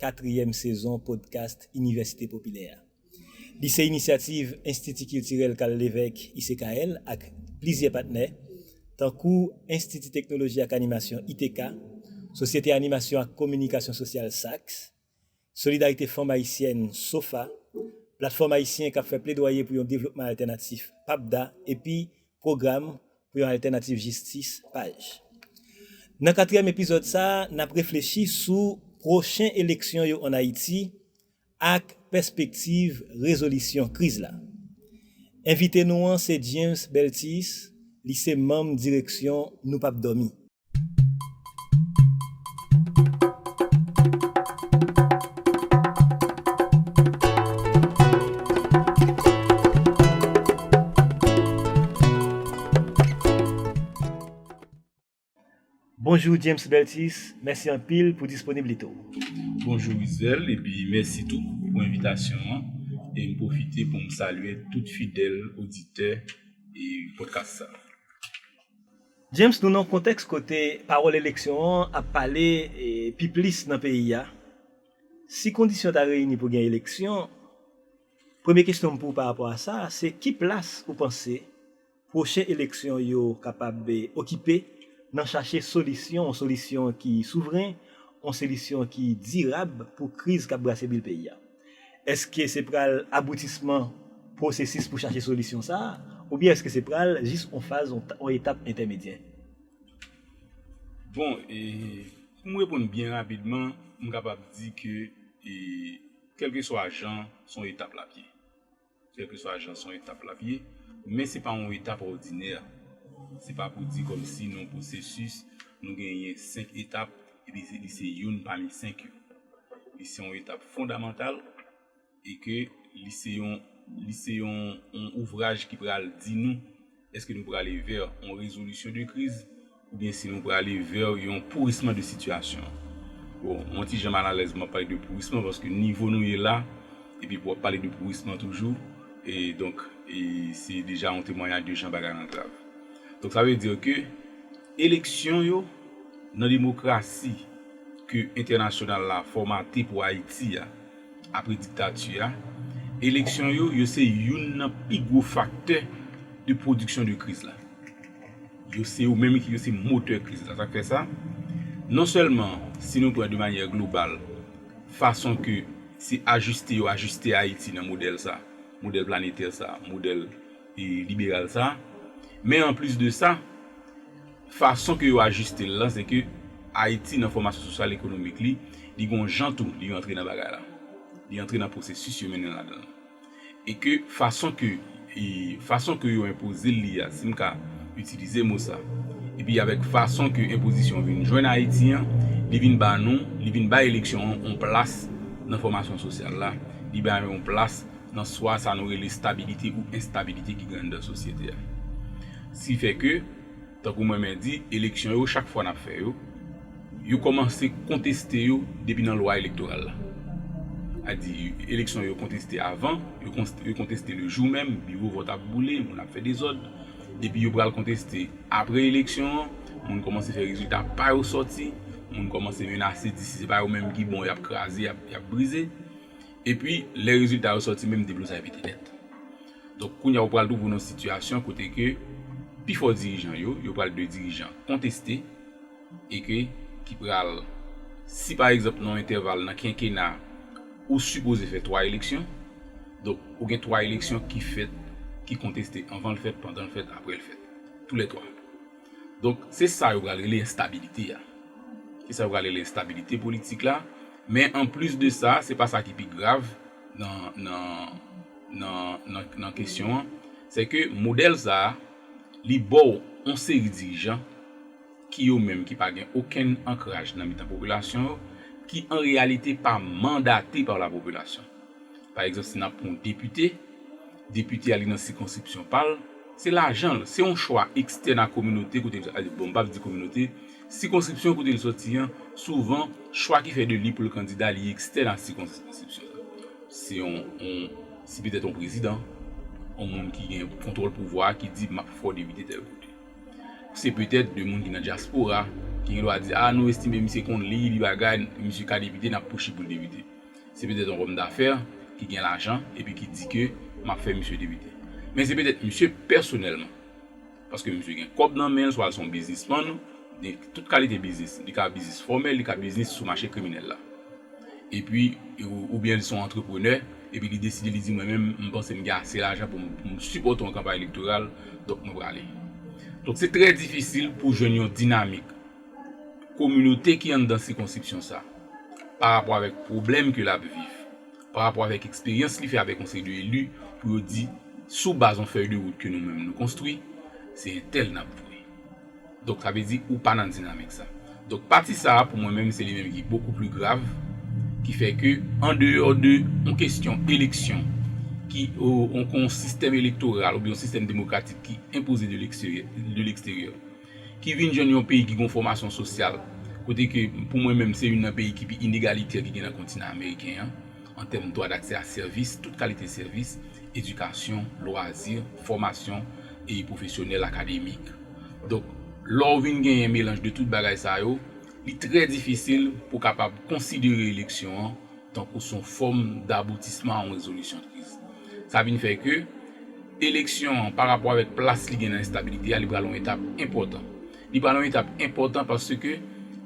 Katriyèm sezon podcast Inivèsite Popilè a. Li se inisyativ Enstiti Kiltirèl Carl Lévêque, ICKL, ak plizyè patnè, tankou Enstiti Teknoloji ak Animasyon, ITK, Sosyete Animasyon ak Kominikasyon Sosyal, SAKS, Solidarite Fanm Ayisyèn, sofa, Platfòm Ayisyen k ap fè Pledwaye pou yon Devlopman Altènatif, PAPDA, epi Pwogram pou yon altènativ jistis, paj. Nan katriyèm epizòd sa, n ap reflechi sou pwochen eleksyon yo ann Ayiti ak pèspektiv rezolisyon kriz la. Envite nou an se James Beltis, li se manm direksyon Nou Pap Dòmi. Bonjou James Beltis, mèsi anpil pou disponiblite w. Bonjou Rizèl epi mèsi tou pou envitasyon an e m pwofite pou m salye tout fidèl oditè podcast sa. James, nou nan yon kontèks kote pawòl eleksyon an ap pale pi plis nan peyi a. Si kondisyon ta reyini pou gen eleksyon, premye kesyon m pou w parapò a sa, se ki plas ou panse pwochen eleksyon yo kapab okipe nan chache solisyon, yon solisyon ki souvren, yon solisyon ki dirab pou kriz k ap brase bil peyi a? Èske se pral aboutisman pwosesis pou chache solisyon sa a, oubyen èske se pral jis on faz, on etap entèmedyè? Bon, pou m reponn byen rapidman, m kapab di ke kèlkeswa jan, s on etap l ap ye. Kèlkeswa jan son etap lap ye, men se pa yon etap òdinè. Se pa pou di kòmsi nan yon pwosesis nou genyen 5 etap epi li se youn pami 5 yo. Li se yon etap fondamantal e ke li se yon li se yon yon ouvraj ki pral di nou Eske nou prale vè yon rezolisyon de kriz oubyen si nou prale vè yon pourisman de sitiyasyon an? Bon, mwen ti jan malalèz mwen ap pale de pourisman paske nivo nou ye la epi pou w ap pale de pourisman toujou e donk e se deja yon temwanyaj de jan bagay lan grav. Donk sa vle di ke eleksyon yo nan demokrasi ke entènasyonal la fòmate pou Ayiti a, Apre diktati a, eleksyon yo yo se youn nan pi gwo faktè de pwodiksyon de kriz la. Yo se yo menm ki yo se motè kriz la. Sa k fè sa, non sèlman si nou pran de manyè global fason ke se ajiste yo ajiste Ayiti nan modèl sa, modèl planetè sa, modèl liberal sa, men anplis de sa, Fason ke yo ajiste l lan se ke Ayiti nan fòmasyon sosyal ekonomik li, li gon jan tou li rantre nan bagay la. Li antre nan pwosesis yo mennen l ladan l. E ke fason ke e fason ke yo enpoze l li a, si m ka itilize mo sa, epi avèk fason ke enpozisyon vin jwenn Ayiti an, li vin ba nou, li vin bay eleksyon an yon plas nan fòmasyon sosyal la, li ba yo yon plas nan swa sa nou rele stabilite ou enstabilite ki gen anndan sosyete a. Si fè ke. Tankou mwen men di, eleksyon yo chak fwa nap fè yo, yo kòmanse konteste yo depi nan lwa elektoral la. A di eleksyon yo konteste avan, yo konteste le jou menm, biwo vòt ap boule, moun ap fè dezòd. Epi yo pral konteste apre eleksyon an, moun kòmanse fè rezilta pa yo sòti, moun kòmanse menase di si se pa yo menm ki bon yap kraze, yap brize. Epi lè rezilta yo sòti menm deblozay pete nèt. Donk kounye a ou pral twouve w nan yon sitiyasyon kote ke pi fò dirijan yo, yo pral de dirijan konteste e ke ki pral, si pa egzanp nan yon entèval nan kenkena ou sipoze fè 3 eleksyon, donk ou gen 3 eleksyon ki fèt, ki konteste anvan l fèt, pandan l fèt, apre l fèt. Tou lè 3. Donk se sa yo pral rele enstabilite a. Se sa yo pral rele enstabilite politik la. Men anplis de sa, se pa sa ki pi grav nan, nan. nan kesyon an, se ke modèl sa a, li ba w yon seri dirijan ki yo menm ki pa gen okenn ankraj nan mitan popilasyon yo, ki an reyalite pa mandate pa la popilasyon. Pa egzanp, si n ap pran yon depite, depite a li nan sikonskripsyon pa l, se lajan l, se yon chwa ekstèn a kominote kote, bon m pa vle di kominote, sikonskripsyon kote l soti an, souvan chwa ki fè de li pou l kandida li ekstèn a sikonskripsyon an. Se yon si petèt yon prezidan, yon moun ki gen kontwòl pouvwa a ki di m ap fè w depite tèl kote. Se petèt de moun ki nan dyaspora ki gen dwa di a nou estime misye konn li, li bagay, misye ka depite n ap poushi pou l depite. Se petèt yon òmdafè ki gen lajan epi ki di ke m ap fè misye depite. Men se petèt misye pèsonèlman. Paske misye gen kòb nan menl swa l son biznisman gen tout kalite biznis li ka biznis fòmèl li ka biznis sou mache kriminèl la epi oubyen li son antreprenè epi li deside li di mwen menm m panse m gen ase lajan pou m sipòte yon kanpay elektoral donk mwen prale donk se trè difisil pou jwenn yon dinamik kominote ki anndan sikonsipsyon sa parapò avèk pwoblèm ke lap viv. pa rapò avèk eksperyans li fè avèk yon seri de eli pou yo di sou baz yon fèy de wout ke nou menm nou konstwi se entèl n ap voye donk sa vle di ou pa nan dinamik sa donk pati sa pou mwen menm se li menm ki bokou pli grav ki fè ke an deyò de yon kestyon eleksyon ki yon sistèm elektoral oubyen yon sistèm demokratik ki enpoze de leksteryè ki vin jwenn yon peyi ki gen yon fòmasyon sosyal, kote ke pou mwen menm se youn nan peyi ki pi inegalitè ki gen nan kontinan ameriken an, an tèm dwa daksè a sèvis, tout kalite sèvis, edikasyon, lwazi, fòmasyon e pwofesyonèl, akademik. Donk, lè w vin genyen melanj de tout bagay sa yo, li trè difisil pou w kapab konsidere eleksyon an tankou s on fòm daboutisman a on rezolisyon kriz. Sa vin fè ke eleksyon an, pa rapò avèk plas li gen nan enstabilite a, li pral on etap enpòtan. Li pral on etap enpòtan paske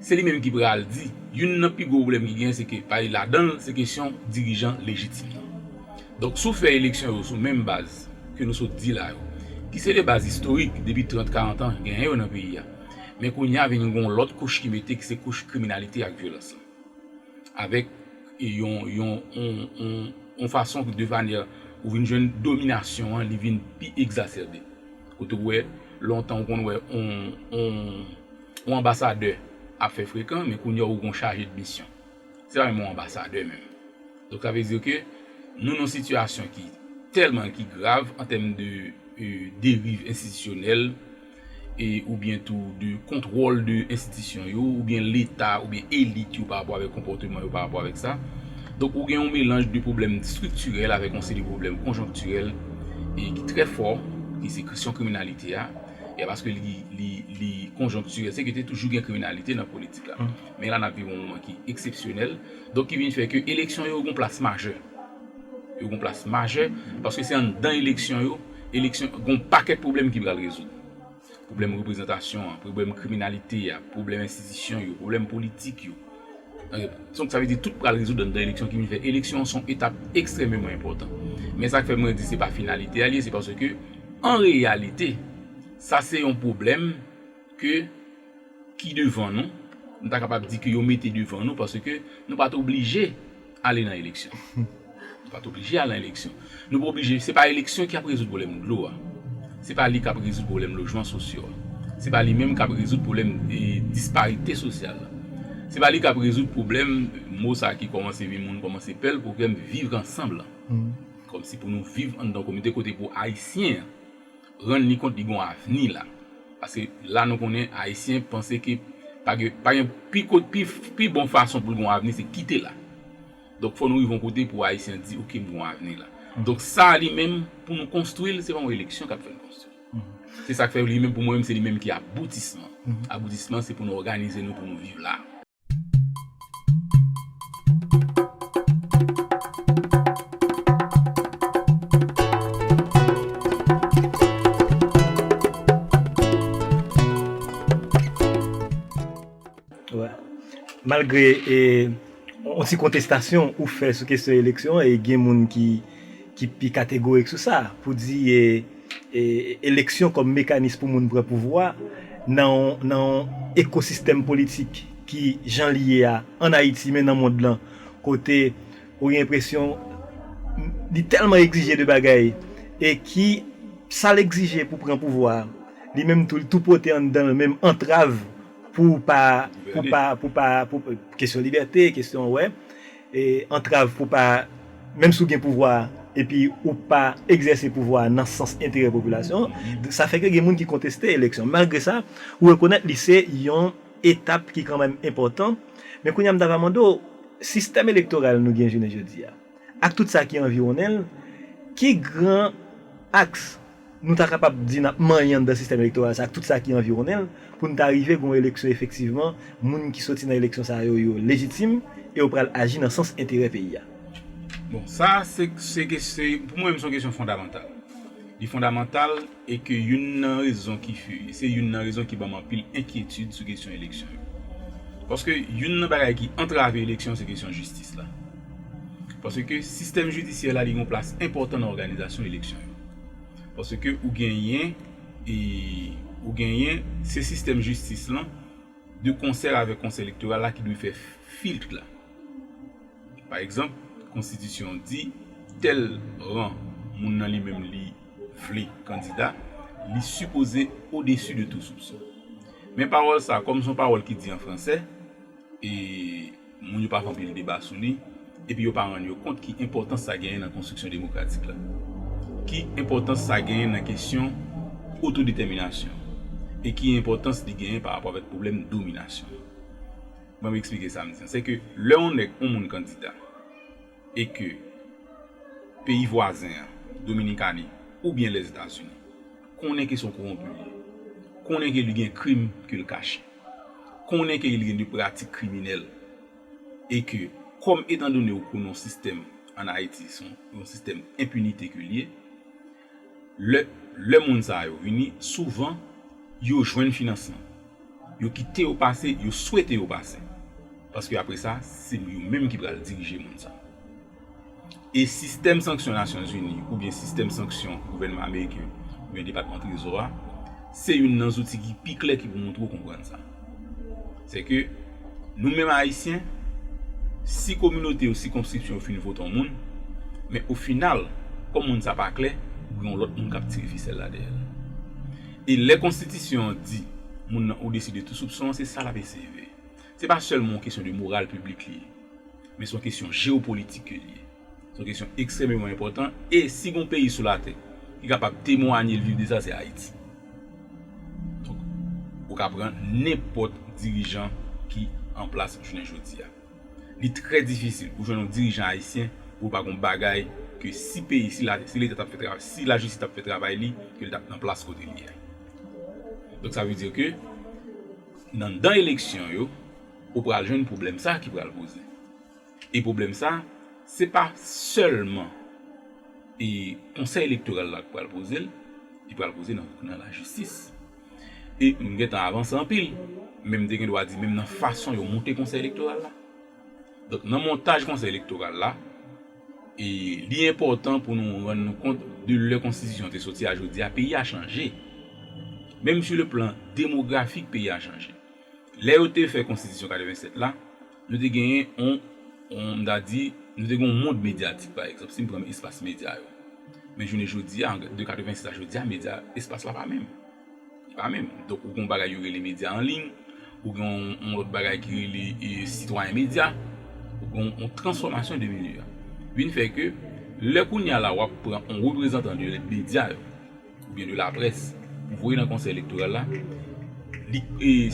se li menm ki pral di, youn nan pi gwo pwoblèm ki genyen se ke pale ladan l, se kesyon dirijan lejitim nan. Donk, si w fè eleksyon yo sou menm baz ke nou sot di la yo, ki se de baz istorik depi trant, karant an genyen yo nan peyi a, men kounye a vin gen on lòt kouch ki mete ki se kouch kriminalite ak vyolans lan. avèk yon fason de manè ou vin jwenn dominasyon an li vin pi egzasèbe. Kote ou wè lontan ou konn wè yon anbasadè ap fè frekan men kounye a ou gon chaje de misyon. Se pa menm yon anbasadè menm. Donk sa vle di ke nou nan yon sitiyasyon ki tèlman ki grav an tèm de deriv enstitisyonèl. oubyen tou de kontwòl de enstitisyon yo, oubyen leta, oubyen elit yo pa rapò avèk konpòteman yo pa rapò avèk sa. Donk ou gen yon melanj de pwoblèm estriktirèl avèk yon seri de pwoblèm konjonktirèl e ki trè fò ki se kesyon kriminalite a e paske li konjonktirèl se ke te toujou gen kriminalite nan politik la men la n ap viv yon moman ki eksepsyonèl donk ki vin fè ke eleksyon yo gen yon plas majè. Yo gon plas majè paske se anndan eleksyon yo, eleksyon gon pakèt pwoblèm ki pral rezoud. Pwoblèm reprezantasyon an, pwoblèm kriminalite a, pwoblèm enstitisyon yo, pwoblèm politik yo. Donk sa vle di tout pral rezoud anndan eleksyon ki vin fè eleksyon an se yon etap ekstrèmeman enpòtan. Men sa k fè mwen di se pa finalite a li ye se paske an reyalite sa se yon pwoblèm ke ki devan nou, m ta kapab di ke yo mete devan nou paske nou pa t oblije ale nan eleksyon. Nou pa t oblije ale nan eleksyon. Nou pa oblije, se pa eleksyon ki ap rezoud pwoblèm dlo a. Se pa li k ap rezoud pwoblèm lojman sosyo a. Se pa li menm k ap rezoud pwoblèm disparite sosyal la. Se pa li k ap rezoud pwoblèm, mo sa ki kòmanse vin moun kòmanse pè l, pwoblèm viv ansanm lan. Kòmsi pou nou viv anndan yon kominote kote pou Ayisyen an. rann li kont li gon avni la paske la nou konnen ayisyen panse ke pa gen pi bon fason poul gon avni se kite la donk fò nou rive yon kote pou ayisyen di ok m gon avni la donk sa li menm pou nou konstwil se pa yon eleksyon kap fèl konstwil se sak fè li menm pou mwen menm se li menm ki aboutisman aboutisman se pou nou òganize nou pou nou viv la. Malgre yon ti kontestasyon ou fè sou kesyon eleksyon, gen moun ki pi kategorik sou sa, pou di. Eleksyon kòm mekanis pou moun pran pouvwa nan yon ekosistèm politik ki jan li ye a an Ayiti men nan mond lan kote ou gen enpresyon li tèlman egzije de bagay e ki sa l egzije pou pran pouvwa a li menm tou li tou pote anndan l menm antrav pou pa kesyon libète, kesyon wè. antrav pou pa menm si w gen pouvwa a epi ou pa egzèse pouvwa a nan sans enterè popilasyon an, sa fè ke gen moun ki konteste eleksyon. Malgre sa, ou rekonèt li se yon etap ki kanmenm enpòtan. Men kounye a m ta va mande w, sistèm elektoral nou gen jounen jodi a, ak tout sa ki anviwonnen l, ki gran aks, Nou ta kapab di n ap manyen anndan sistèm elektoral sa ak tout sa ki anviwonnen l pou n ta rive gen yon eleksyon efektivman moun ki soti nan eleksyon sa yo yo lejitim e yo pral aji nan sans enterè peyi a. Bon, sa a se, se kesy, pou mwen menm se yon kesyon fondamantal. Li fondamantal e ke youn nan rezon ki fe, se youn nan rezon ki ban m anpil enkyetid sou kesyon eleksyon yo. Paske youn nan bagay ki antrave eleksyon se kesyon jistis la. Paske sistèm jidisyè la li gen yon plas enpòtan nan òganizasyon eleksyon yo. Paske ou genyen e ou genyen se sistèm jistis lan de konsè avèk konsèy elektoral la ki dwe fè filtre la. Pa egzanp, konstitisyon an di tèl ran moun nan li menm li vle kandida, li sipoze odesu de tou soupson. Men pawòl sa kòm son pawòl ki di an fransè, e moun yo pa fè anpil deba sou li, epi yo pa rann yo kont ki enpòtans sa genyen nan konstriksyon demokratik la, ki enpòtans sa genyen nan kesyon otodetèminasyon e ki enpòtans li genyen pa rapò avèk pwoblèm dominasyon. Ban m eksplike sa m di an. Sè ke lè yon nèg, yon moun kandida. e ke peyi vwazen an, Dominikani, oubyen Lèzetazini, konnen ke se yon kowonpi li ye, konnen ke li gen krim ke l kache, konnen ke li gen de pratik kriminèl, e ke kòm etan done ou konnen yon sistèm an Ayiti, se yon sistèm enpinite ke li ye, Lè moun sa yo vini, souvan yo jwenn finansman. Yo kite yo pase, yo swete yo pase. Paske apre sa, se yo menm ki pral dirije moun sa. E sistèm sanksyon Nasyon Zini oubyen sistèm sanksyon gouvènman ameriken oubyen depatman trezò a, se youn nan zouti ki pi klè ki pou montre ou konprann sa. Se ke nou menm Ayisyen, si kominote yo, sikonskripsyon yo fin vote yon moun, men o final, kòm moun sa pa klè, gen yon lòt moun k ap tire fisèl la dèyè l. E lè konstitisyon an di moun nan odesi de tou soupson an, se sa l ap eseye veye. Se pa sèlman yon kesyon de moral piblik li ye, men se yon kesyon jewopolitik ke li ye. Se yon kesyon ekstrememan enpòtan e si gon peyi sou latè ki kapab temwanye l viv de sa se Ayiti. Donk, ou ka pran nenpòt dirijan ki an plas jounen jodi a. Li trè difisil pou jwenn yon dirijan ayisyen pou l pa gon bagay ke si peyi, si la, si leta t ap fè travay, si lajistis t ap fè travay li ke l t ap nan plas kote li a. Donk sa vle di ke nan dan eleksyon yo ou pral jwenn pwoblèm sa ki pral poze. E pwoblèm sa, se pa sèlman e konsèy elektoral la ki pral poze l, li pral poze nan lajistis. E m gen tan avanse anpil, men m te gen dwa di menm nan fason yo monte konsèy elektoral la. Donk nan montaj konsèy elektoral la, e li enpòtan pou nou rann nou kont de lè konstitisyon te soti a jodi a, peyi a chanje. Menm sou le plan demografik peyi a chanje. Lè yo te fè konstitisyon 87 la, Nou te genyen yon, m ta di, nou te gen yon mond medyatik pa egzanp, si m pran espas medya yo. Men jounen jodi a, de 86 a jodi a, medya, espas la pa menm. Li pa menm. Donk ou gen yon bagay yo rele medya anliy, ou gen yon lòt bagay ki rele sitwayen medya, ou gen yon transfòmasyon de medya. Vin fè ke, lè kounye a la w ap pran yon reprezantan de medya yo, oubyen de laprès pou voye nan konsèy elektoral la, li,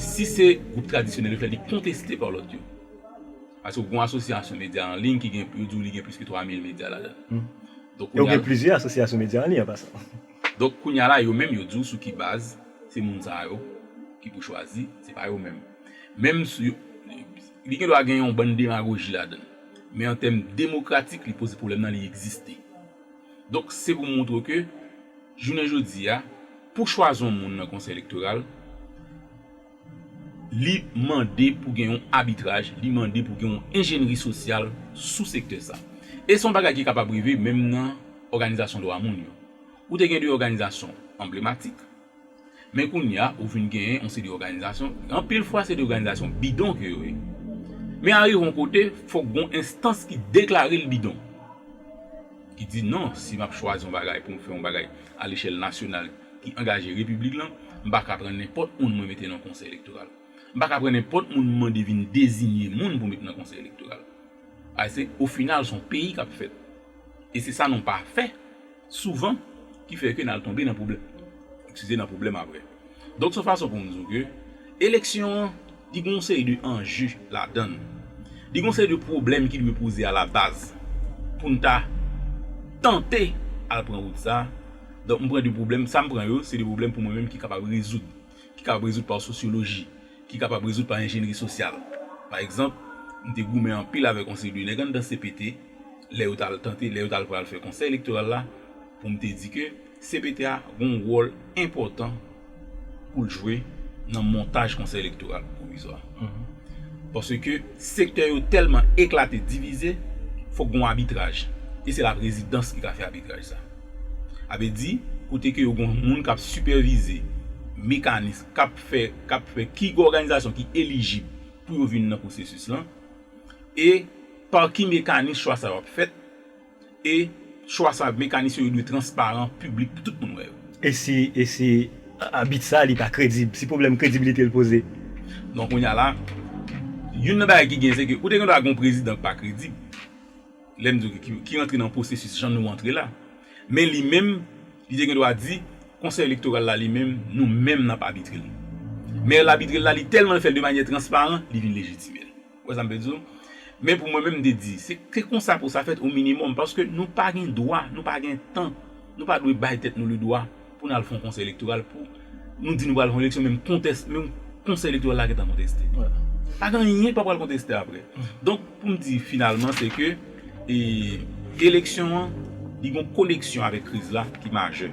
si se gwoup tradisyonèl yo fè l, li konteste pa lòt yo. Paske ou gen yon asosyasyon medya an liy ki gen, yo di w li gen plis ke 3 mil medya ladan l. Donk kounya. E ou gen plizyè asosyasyon medya an liy an pasan. Donk kounya la yo menm yo di w sou ki baz se moun sa yo ki pou chwazi, se pa yo menm. Menm si, li gen dwa gen yon bann demagoji ladan l. Men an tèm demokratik li poze pwoblèm nan li egziste. Donk se pou montre ke jounen jodi a pou chwazi yon moun nan konsèy elektoral li mande pou gen yon abitraj, li mande pou gen yon enjennri sosyal sou sektè sa. E se yon bagay ki kapab rive menm nan òganizasyon dwa moun yo. Ou te gen de òganizasyon anblematik, Men kounye a, ou vin genyen yon seri òganizasyon, anpil fwa se de òganizasyon bidon ke yo ye. Men arive yon kote, fòk gon enstans ki deklare l bidon. Ki di non, si m ap chwazi yon bagay pou m fè yon bagay alechèl nasyonal ki angaje repiblik lan, m pa ka pran nenpòt moun mwen mete nan konsèy elektoral. M pa ka pran nenpòt moun m mande vin dezinye moun pou met nan konsèy elektoral. Ase, ofinal, s on peyi k ap fèt. E se sa nou pa fè. Souvan, ki fè ke nal tonbe nan pwoblèm. Eskize nan pwoblèm aprè. Donk son fason pou m di w ke eleksyon an li gen yon seri de anje ladann. Li gen yon seri de pwoblèm ki dwe poze a la baz pou n ta tante al pran wout sa. Donk m pran de pwoblèm, sa m pran yo se de pwoblèm pou mwen menm ki kapab rezoud. ki kapab rezoud pa sosyoloji, ki kapab rezoud pa enjenyri sosyal. Pa egzanp, m te goumen anpil avèk yon seri de nèg anndan cpt, lè yo t al tante, lè yo t al pral fè Konsèy Elektoral la, pou m te di ke cpt a gen yon wòl enpòtan pou l jwe nan montaj Konsèy Elektoral Pwovizwa. Paske sektè yo tèlman eklate, divize, fòk gen yon abitraj. E se laprezidans ki ka fè abitraj sa. Avle di, kote ke yo gon moun kap sipèvize mekanis kap fè, kap fè ki òganizasyon ki elijib pou yo vin nan pwosesis lan, e pa ki mekanis chwa sa yo ap fèt, e chwa sa mekanis yo yo dwe transparan, piblik pou tout moun wè yo. E si, e si abit sa li pa kredib, si pwoblèm kredibilite l poze? Donk kounya la, youn nan bagay ki gen se ke ou te gen dwa gen yon prezidan ki pa kredib. lè m di w ki rantre nan pwosesis jan nou rantre la, men li menm li te gen dwa di konsèy elektoral la li menm nou menm n ap abitre l, men l abitre l la li tèlman l fè l de manyè transparan li vin lejitime l, ou wè sa m vle di w, men pou mwen menm m te di se konsa pou sa fèt o minimòm paske nou pa gen dwa nou pa gen tan nou pa dwe bay tèt nou le dwa Pou n al fè yon konsèy elektoral pou nou di nou pral fè yon eleksyon menm kontès menm konsèy elektoral la gentan konteste. Pa gen anyen ki pa pral konteste aprè. Donk pou m di finalman se ke eleksyon an li gon koneksyon avèk kriz la ki majè.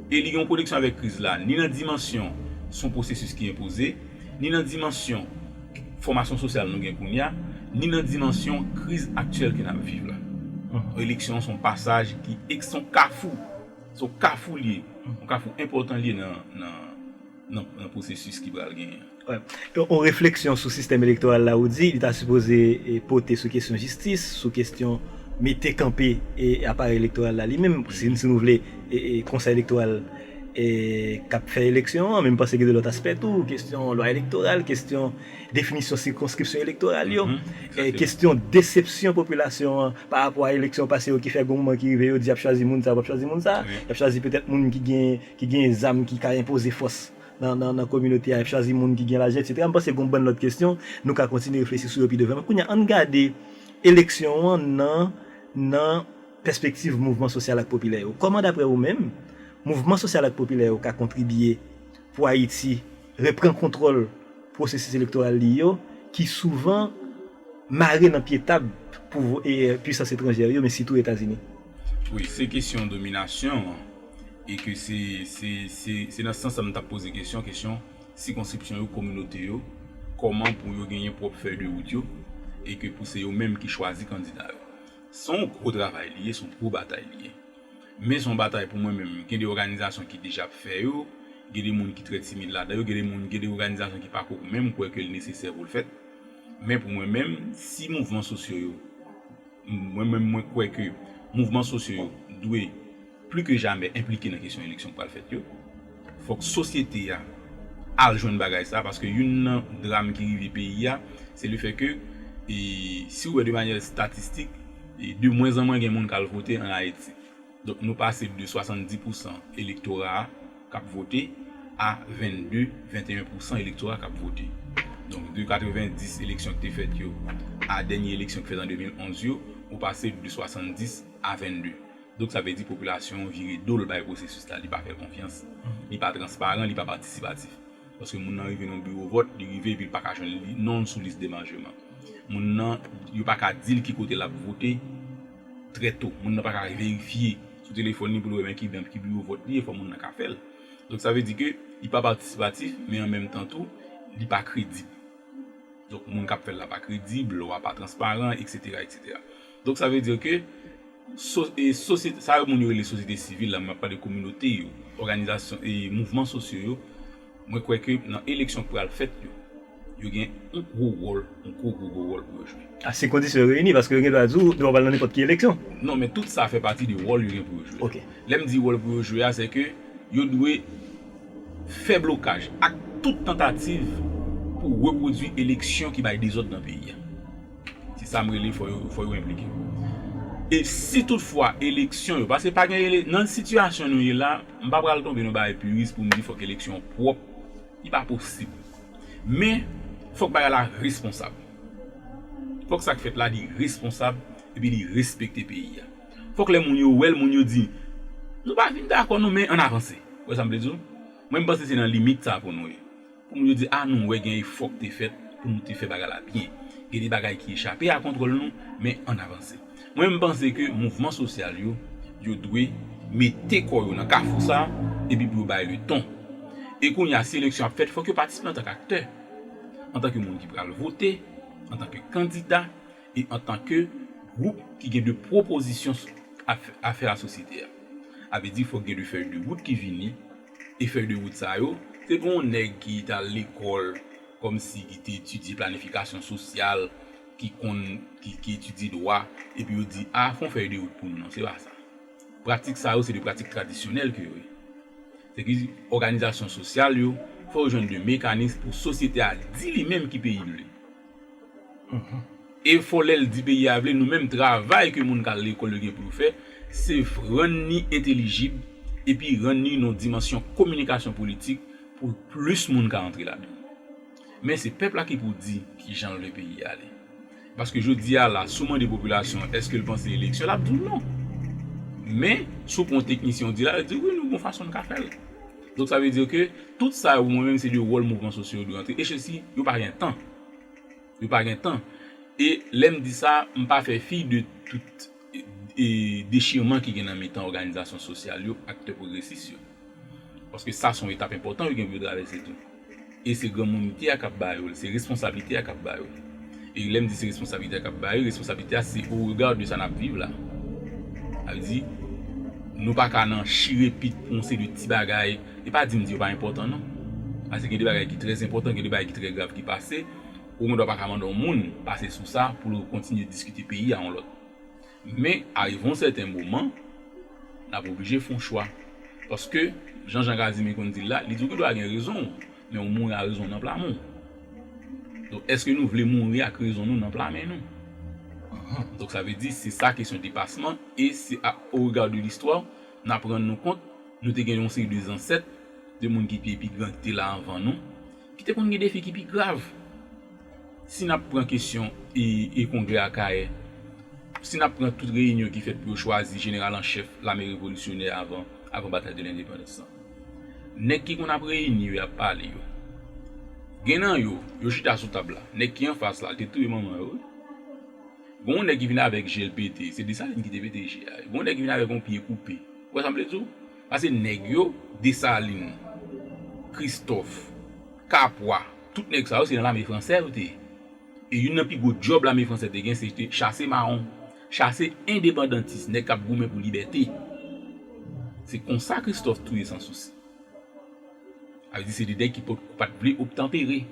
E li gen yon koneksyon avèk kriz la ni nan dimansyon se yon pwosesis ki enpoze, ni nan dimansyon fòmasyon sosyal nou gen kounye a, ni nan dimansyon kriz aktyèl ke n ap viv la. Eleksyon an se yon pasaj ki se yon kafou. Se yon kafou li ye. Yon kafou enpòtan li ye nan pwosesis ki pral genyen an. Yon refleksyon sou sistèm elektoral la ou di li ta sipoze pote sou kesyon jistis, sou kesyon mete kanpe aparèy elektoral la li menm, si nou vle konsèy elektoral k ap fè eleksyon an, men m panse gen de lòt aspè tou, kesyon lwa elektoral, kesyon. definisyon sikonskripsyon elektoral yo, kesyon desepsyon popilasyon an pa rapò a eleksyon pase yo ki fè gen yon moman ki rive yo di y ap chwazi moun sa, yo p ap chwazi moun sa, y ap chwazi petèt moun ki gen zam ki ka enpoze fòs nan kominote a, y ap chwazi moun ki gen lajan etsetera. M panse gen yon bann lòt kesyon nou ka kontinye reflechi sou yo pi devan. Men kounye a, an n gade eleksyon an nan pèspektiv mouvman sosyal ak popilè yo. Kòman daprè ou menm mouvman sosyal ak popilè yo ka kontribye Pou Ayiti repran kontwòl pwosesis elektoral li yo ki souvan mare nan pye tab pwisans etranjè yo men sitou Etazini. Wi, se kesyon dominasyon an e ke se nan sans sa m tap poze kesyon, kesyon sikonskripsyon yo, kominote yo, kòman pou yo genyen pwòp fèy de wout yo e ke pou se yo menm ki chwazi kandida yo. Se yon gwo travay li ye, se yon gwo batay li ye. Men son batay pou mwen menm gen de òganizasyon ki deja ap fè yo, gen de moun ki trè timid ladan yo, gen de moun gen de òganizasyon ki pako menm kwè ke l nesesè pou l fèt. Men pou mwen menm si mouvman sosyo yo, mwen menm mwen kwè ke mouvman sosyo yo dwe pli ke jamè enplike nan kesyon eleksyon k pral fèt yo. Fòk sosyete a al jwenn bagay sa paske youn nan dram ki rive peyi a se le fè ke si ou wè de manyè statistik de mwen zan mwen gen moun kal vote an Ayiti. Donk nou pase de 70 pousan elektora a kap vote a 22, 21 pousan elektora kap vote. Donk de 90 eleksyon ki te fèt yo a dènye eleksyon ki fèt an 2011 yo ou pase de 70 a 22. Donk sa vle di popilasyon an vire do l bay pwosesis la, li pa fè l konfyans, li pa transparan, li pa patisipatif. Paske moun nan rive nan biwo vòt, li rive epi li pa ka jwenn non l sou lis demanjeman. Moun nan, yo pa ka di l ki kote l ap vote trè to. Moun nan pa ka verifye sou telefòn li pou l wè men ki dan, ki biwo vòt li ye, fò moun nan ka fè l. Donk sa vle di ke li pa patisipatif men an menm tan tou, li pa kredib. Donk moun k ap fè l la pa kredib, lwa pa transparan, eksetera, eksetera. Donk sa vle di ke sosyete, sa yo moun yo rele sosyete sivil la, map pale kominote yo, òganizasyon e mouvman sosyo yo, mwen kwè ke nan eleksyon k pral fèt yo, yo gen yon gwo wòl, yon gwo gwo gwo wòl pou yo jwe. A si kondisyon yo reyini, paske yo gen dwa di w, dwa w pa al nan nenpòt ki eleksyon. Non, men tout sa fè pati de wòl yo gen pou yo jwe. Ok. Lè m di wòl pou yo jwe a, se ke yo dwe fè blokaj ak tout tantativ pou repwodui eleksyon ki bay dezòd nan peyi a. Se sa m rele fò yo fò yo enplike. E si tout fwa eleksyon yo, paske pa gen ele, nan sitiyasyon nou ye la, m pa pral tonbe nan yon bagay piris pou m di fòk eleksyon pwòp, li pa posib. Men, fòk bagay la responsab. Fòk sa k fèt la li responsab epi li respekte peyi a. Fòk lè moun yo wè l, moun yo di, nou pa fin dakò non men ann avanse. Ou wè sa m vle di w? Mwen m panse se nan limit sa pou nou ye. Pou moun yo di a nou wè gen efò k te fèt pou nou te fè bagay la byen. Gen de bagay ki echape a kontwòl nou, men ann avanse. Mwen menm m panse ke mouvman sosyal yo, yo dwe mete kò yo nan kafou sa a epi pou yo bay le ton. E kounye a si eleksyon ap fèt fòk yo patisipe antan k aktè, antan ke moun ki pral vote, antan ke kandida e antan ke gwoup ki gen de pwopozisyon a fè a sosyete a. A vle di fòk gen de fèy de wout ki vini E fèy de wout sa yo, se pou yon nèg ki t al lekòl kòmsi ki te etidye planifikasyon sosyal, ki konn, ki etidye dwa, epi yo di, a, fè yon fèy de wout pou nou non, se pa sa. Pratik sa yo se de pratik tradisyonèl ke yo ye. Se ki di, òganizasyon sosyal yo, fò yo jwenn de mekanis pou sosyete a di li menm ki peyi li. E fò lèl di peyi a vle nou menm travay ke moun kal lekòl yo gen pou yo fè se rann ni entelijib epi rann ni nan dimansyon kominikasyon politik pou plis moun ka antre ladan men se pèp la ki pou di kijanl vle peyi a ale paske jodi a la sou mande popilasyon an eskel panse eleksyon lap di w non men sou pran teknisyen w di la yo di w wi nou gon fason nou ka fèl. Donk sa vle di ke tout sa yo pou mwen menm se de wòl mouvman sosyo yo dwe antre echesi yo pa gen tan yo pa gen tan e lèm di sa m pa fè fi de tout e dechirman ki gen nan mitan òganizasyon sosyal yo aktè pwogresis yo paske sa son etap enpòtan yo gen pou yo travèse tou. E se granmounite a k ap ba yo l, se responsablite a k ap ba yo l. E lè m di se responsablite a k ap ba yo l, responsablite a se o rega de sa n ap viv la. Sa vle di, nou pa ka nan chire pit pou yon seri de ti bagay, e pa di m di yo pa enpòtan non. Pase gen de bagay ki trè enpòtan, gen de bagay ki trè grav ki pase, ou gen dwa pa ka mande yon moun pase sou sa pou l kontinye diskite peyi a yon lòt. Men, arive yon sèten moman, n ap oblije fè yon chwa. Paske, jan Jan Kazimi konn di l la, li di w ki dwa gen rezon w, men ou mouri a rezon w nan pla men w. Donk, èske nou vle mouri ak rezon nou nan pla men nou? Donk, sa vle di, se sa kesyon depasman e se a o rega de listwa n ap rann nou kont nou te gen yon seri de zansèt, de moun ki te pi gran, ki te la anvan nou, ki te konn gen defi ki pi grav. Si n ap pran kesyon e kongrè Akayè, si n ap pran tout reyinyon ki fèt pou yo chwazi jeneral an chèf lame revolisyonè avan batay de lendepandans lan, nèg ki konn ap reyini yo, y ap pale yo, gen nan yo, yo chita sou tab la, nèg ki anfas la, l te touye manman yo wi. Gen yon nèg ki vin avèk je l pete, se Desalin ki te pete je a, gen yon nèg ki vin avèk yon pye koupe, ou wè sa m vle di w? Pase nèg yo, Desalin, Kristòf, Kapwa. Tout nèg sa yo se nan lame fransè yo te ye. E youn nan pi gwo djòb lame fransè te gen se te chase mawon, chase endepandantis, nèg k ap goumen pou libète. Se konsa Kristòf touye Sansousi. Sa vle di se de nèg ki pa t vle obtanpere.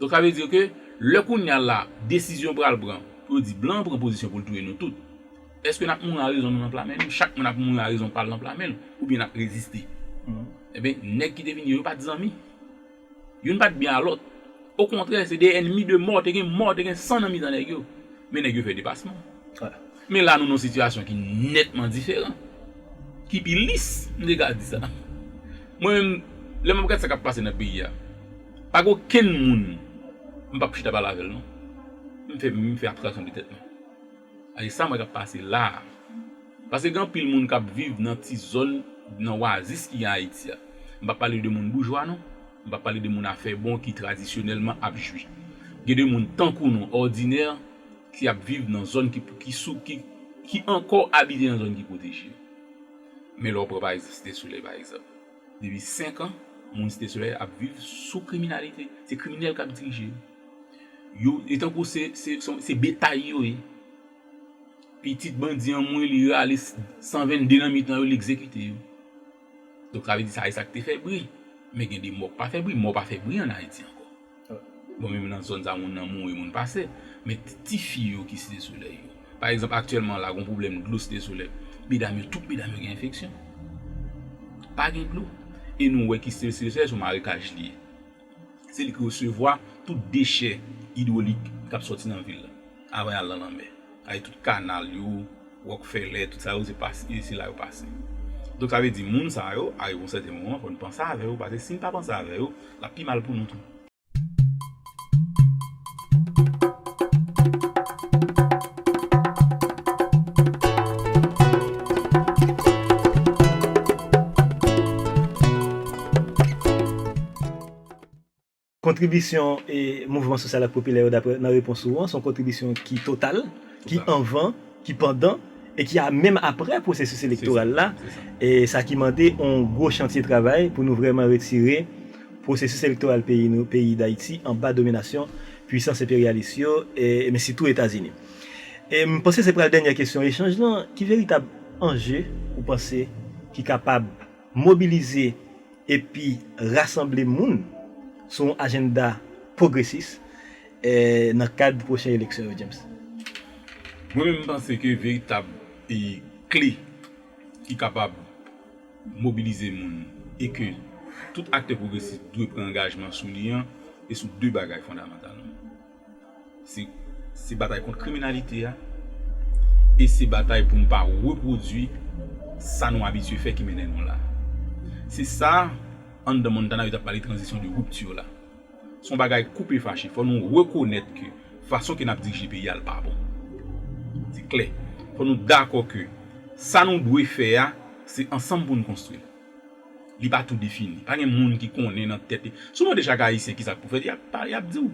Donk sa vle di ke lè kounye a la desizyon pral pran pou yo di blan an pran pozisyon pou l touye nou tout, èske n ap mouri a rezon nou nan pla men nou? Chak moun ap mouri a rezon pa l nan pla men l oubyen n ap reziste? Enben nèg ki te vin yo yo pa t zanmi. Youn pat byen a lòt. Okontrè, se de ènmi de mò, te gen mò, te gen san nan mitan nèg yo. Men nèg yo fè depasman. Men la nou nan yon sitiyasyon ki nètman diferan. Ki pi lis, m te ka di sa. Mwen menm, lè m ap gad sa k ap pase nan peyi a, pa gen okenn moun m pap chita pale avè l non. M fè abstraksyon de tèt mwen. Ay sa mwen tap pase la. Pase gen anpil moun kap viv nan ti zòn nan wazis ki gen Ayiti a. M pa pale de moun boujwa non. M pa pale de moun afè bon ki tradisyonèlman ap jwi. Gen de moun tankou nou òdinè ki ap viv nan zòn ki ki sou ki ki ankò abite nan zòn ki pwoteje. Men lè w pran pa egzanp Site Solèy pa egzanp. Depi 5 an moun Site Solèy ap viv sou kriminalite. Se kriminèl kap dirije yo. Yo e tankou se se son se betay yo ye pitit bandi anmweyy li rale 122 nan mitan yo li egzekite yo donk sa vle di sa e sak te fè bri men gen de mò k pa fè bri mò pa fè bri an Ayiti ankò bon menm nan zòn sa moun nan mouri moun pase men ti fi yo ki Site Solèy yo pa egzanp aktyèlman la gon pwoblèm dlo Site Solèy medam yo tout medam yo gen enfeksyon pa gen dlo e nou wè ki Site Solèy se yon marekaj li ye. Se li ki resevwa tout dechè idwolik k ap sòti nan vil la avan y al nan lanmè. Sètadi tout kanal yo, Ròkfèlè, tout sa yo se la yo pase. Donk sa vle di moun sa yo arive yon sèten moman fò n panse avè yo paske si n pa panse avè yo l ap pi mal pou nou tou. Kontribisyon mouvman sosyal ak popilè yo dapre nan repons ou an son kontribisyon ki total, ki anvan, ki pandan e ki menm aprè pwosesis elektoral la, sa ki mande yon gwo chantye travay pou nou vreman retire. Pwosesis elektoral peyi nou, peyi Dayiti, anba dominasyon pwisans enperyalis yo, men sitou Etazini. E m panse se pral dènyè kesyon echanj lan, ki veritab anje ou panse ki kapab mobilize epi rasanble moun sou yon ajennda pwogresis nan kad pwochen eleksyon yo, James? Mwen menm m panse ke veritab kle ki kapab. mobilize moun e ke tout aktè pwogresis dwe pran angajman sou li an, e sou 2 bagay fondamantalman. Se se batay kont kriminalite a, e se batay pou nou pa repwodui sa nou abitye fè ki mennen nou la. Se sa, anndan Montana yo t ap pale tranzisyon de rupture la. Se yon bagay koupe fache. Fò nou rekonèt ke fason ke n ap dirije peyi a l pa bon. Se klè. Fò nou dakò ke sa nou dwe fè a, se ansanm pou nou konstwi l. Li pa tou defini. Pa gen moun ki konnen nan tèt li. Si w mande chak Ayisyen kisa k pou fèt, y ap di w.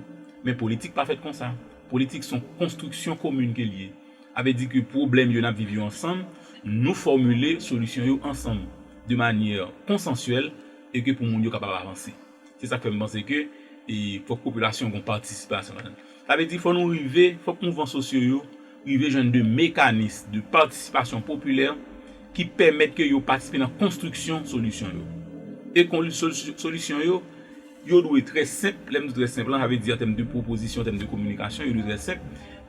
Men politik pa fèt konsa. Politik se yon konstriksyon komin ke l ye. A vle di ke pwoblèm yo n ap viv yo ansanm, nou fòmile solisyon yo ansanm de manyè konsansyèl e ke pou moun yo kapab avanse. Se sak fè m panse ke fòk popilasyon gon patisipasyon ladan. Sa vle di fò nou rive, fòk mouvman sosyo yo rive jwenn de mekanis de patisipasyon popilè ki pèmèt ke yo patisipe nan konstriksyon solisyon yo. E solisyon yo, yo dwe trè senp, lè m di trè senp lan sa vle di an tèm de pwopozisyon, an tèm de kominikasyon, yo dwe trè senp,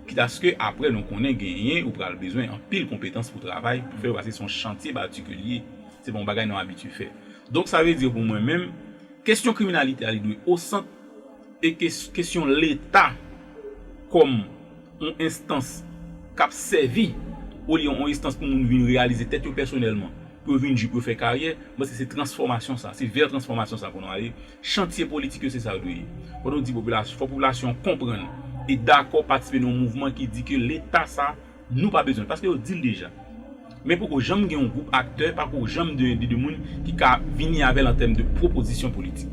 kit aske aprè nou konnen genyen ou pral bezwen anpil konpetans pou travay, pou fè yo pase se yon chantye batik ke li ye, se pa yon bagay nou abitye fè. Donk sa vle di pou mwen menm, kesyon kriminalite a li dwe o sant e ke kesyon leta kòm on enstans k ap sèvi olye on estans pou moun vin reyalize tèt yo pèsonèlman, pou yo vin ji, pou yo fè karyè, m panse se transfòmasyon sa, se vè transfòmasyon sa pou nou ale, chantye politik yo se sa yo dwe ye. Fò nou di popilasyon, fò popilasyon konprann e dakò patisipe nan on mouvman ki di ke leta sa Nou pa bezwen l paske yo di l deja. Men poko janm gen yon gwoup aktè, pako janm de de de moun ki ka vini avè l an tèm de pwopozisyon politik.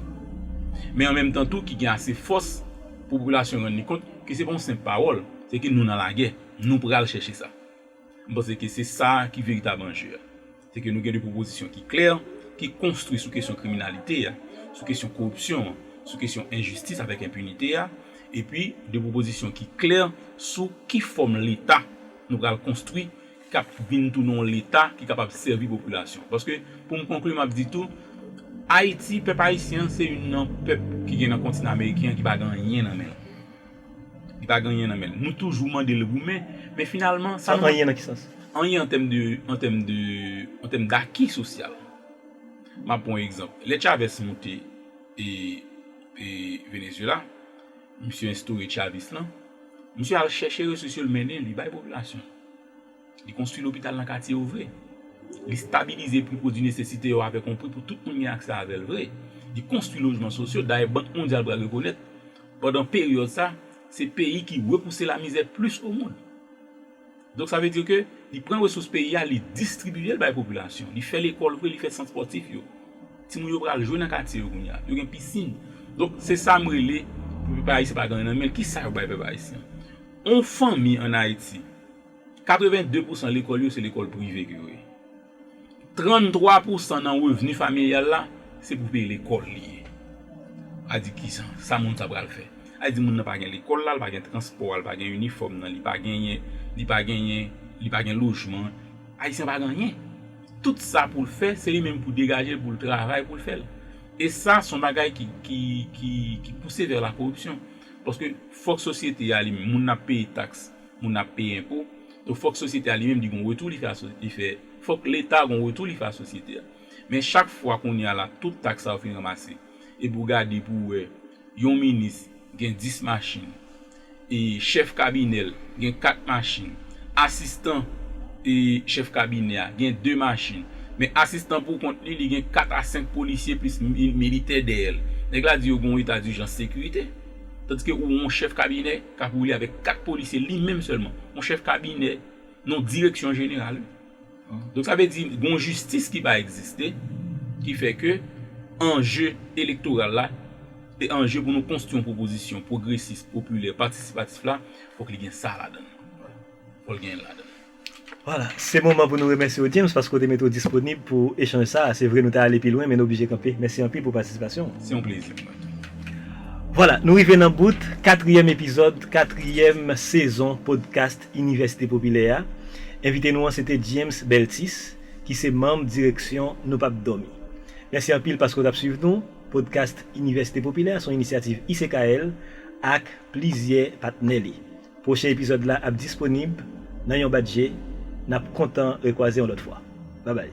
Men an menm tan tou ki gen ase fòs pou popilasyon rann li kont ke se pa yon senp pawòl, se ke nou nan lagè, nou pral chèche sa. M panse ke se sa ki veritab anje a. Se ke nou gen de pwopozisyon ki klè, ki konstwi sou kesyon kriminalite a, sou kesyon koripsyon an, sou kesyon enjistis avèk enpinite a, epi de pwopozisyon ki klè sou ki fòm Leta nou pral konstwi k ap vin tounen yon Leta ki kapab sèvi popilasyon. Paske, pou m konkli, m ap di tou, Ayiti, pèp ayisyen an se youn nan pèp ki gen nan kontinan ameriken an ki pa gen anyen nan men l. Li pa gen anyen nan men l. Nou toujou mande l goumen, men finalman sa nou mande. Anyen nan ki sans? Anyen an tèm daki sosyal. M ap pran yon egzanp. Lè Chavez monte Venezyela, misye enstore Chavism lan, misye al chèche resous yo l mennen, li bay popilasyon l. Li konstwi lopital nan katye yo vre. Li stabilize pri pwodwi nesesite yo avèk yon pri pou tout moun gen aksè avè l vre. Li konstwi lojman sosyo, dayè Bank Mondyal pral rekonèt, pandan peryòd sa, se peyi ki repouse lamizè plis omond. Donk sa vle di ke li pran resous peyi a, li distribiye l bay popilasyon. Li fè lekòl vre, li fè sant spòtif yo. Timoun yo pral jwe nan katye yo kounye a. Yo gen pisin. Donk se sa m rele pou pèp ayisyen pa gen anyen nan men l. Kisa yo bay pèp ayisyen? Yon fanmi ann Ayiti. 82 pousan lekòl yo se lekòl prive ke yo ye. 33 pousan nan revni familyal la se pou peye lekòl li ye. A di ki sa? Sa moun sa pral fè? A di moun nan pa gen lekòl la, li pa gen transpò a, li pa gen inifòm nan, li pa genyen, li pa genyen, li pa gen lojman. Ayisyen pa gen anyen. Tout sa pou l fè, se li menm pou degaje l, pou l travay pou l fè l. E sa son bagay ki, ki, ki, ki pouse vè la koripsyon. Paske fòk sosyete a li menm, moun nan ap peye taks. Moun ap peye enpo. Donk fòk sosyete a li menm li gon retou li fè a sosyete li fè fòk leta gon retou li fè a sosyete a. Men chak fwa kounye a la tout taks sa yo fin ranmase epi ou gade pou wè yon minis gen 10 machin e chèf kabinè l gen 4 machin asistan e chèf kabinè a gen 2 machin men asistan pou kont li li gen 4 a 5 polisye plis militè dèyè l nèg la di yo gon eta dijans sekirite tandiske ou won chèf kabinè K ap woule avèk 4 polisye li menm sèlman. Yon chèf kabinè nan yon direksyon jeneral wi. Donk sa vle di gen yon jistis ki pa egziste ki fè ke anje elektoral la se anje pou nou konstwi yon pwopozisyon pwogresis, popilè, patisipatif la fòk li gen sa ladan l. Fòk l gen l ladan l. Voilà, se moman pou nou remèsye w James paske w te mete w disponib pou echanj sa a. Se vre nou ta ale pi lwen men nou oblije kanpe. Mèsi anpil pou patisipasyon w. Se yon plezi pou mwen. Voilà, nou rive nan bout katriyèm epizòd katriyèm sezon podcast Inivèsite Popilè a. Envite nou an se te James Beltis ki se manm direksyon Nou Pap Dòmi. Mèsi anpil paske w t ap suiv nou. Podcast Inivèsite Popilè a se yon inisyativ ICKL ak plizyè patnè li. Pwochen epizòd la ap disponib nan yon bat je nap kontan rekwaze yon lòt fwa babay.